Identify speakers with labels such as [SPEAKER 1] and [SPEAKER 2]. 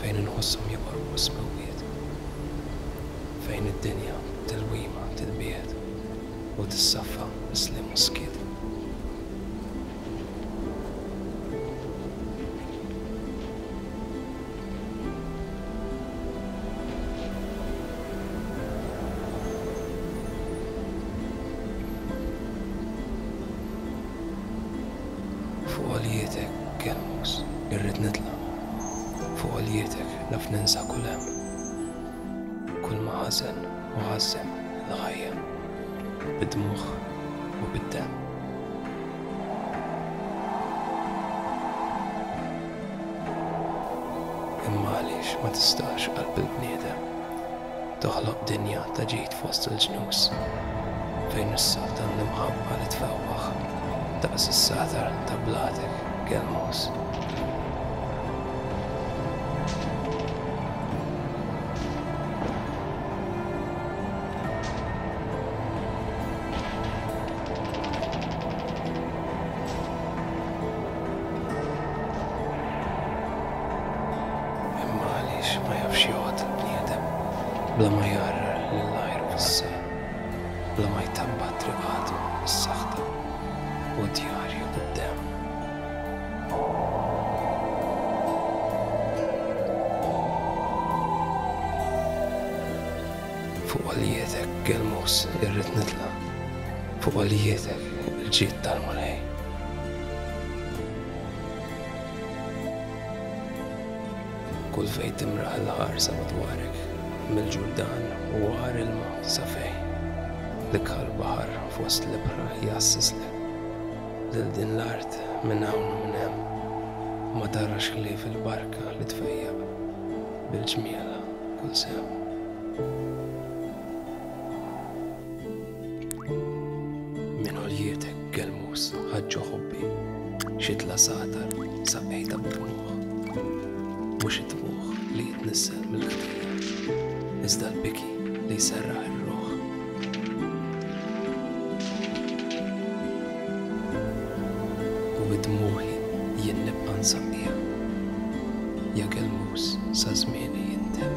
[SPEAKER 1] fejn inħosshom joqorbu s-smewwiet, fejn id-dinja b'tilwima tinbiegħed u tissaffa bis-sliem u s-skiet. Fuq għoljietek Kemmux irrid nitla' fuq għoljietek naf ninsa kull hemm kull ma ħażen u ħażżen il-ħajja bid-dmugħ u bid-demm. Imma għaliex ma tistax qalb il-bniedem? Toħloq dinja ta' ġid fost il-ġnus, fejn is-sod għandu l-mħabba li tfewwaħ daqs is-saħtar ta' bladek gelmuż. Imma għaliex ma jafx joqgħod il-bniedem bla ma jgħarrar lil għajru fis-sejf, bla ma jtabba' triqatu bis-saħta u djarju bid-demm? Fuq għoljietek, Gelmus, irrid nitla', fuq għoljietek, il-ġid tal-Mulej. Kull fejn timraħ il-ħarsa madwarek, mill-Ġurdan u għar ilma sa fejn, l-ikħal baħar fost l-ibħra jgħassislek lil din l-art minn hawn u minn hemm. Ma tarax ħlief il-barka li tfejjaq bil-ġmielha kull sehem. Minn għoljietek gelmus ħaġġu ħobbi xitla satar saqejta bid-dmugħ. Mhux id-dmugħ li jitnissel mill-ħdejja, iżda l-biki li jserraħ ir-ruħ. U bid-dmugħi jien nibqa' nsaqqiha, ja gelmus sa żmieni jintemm.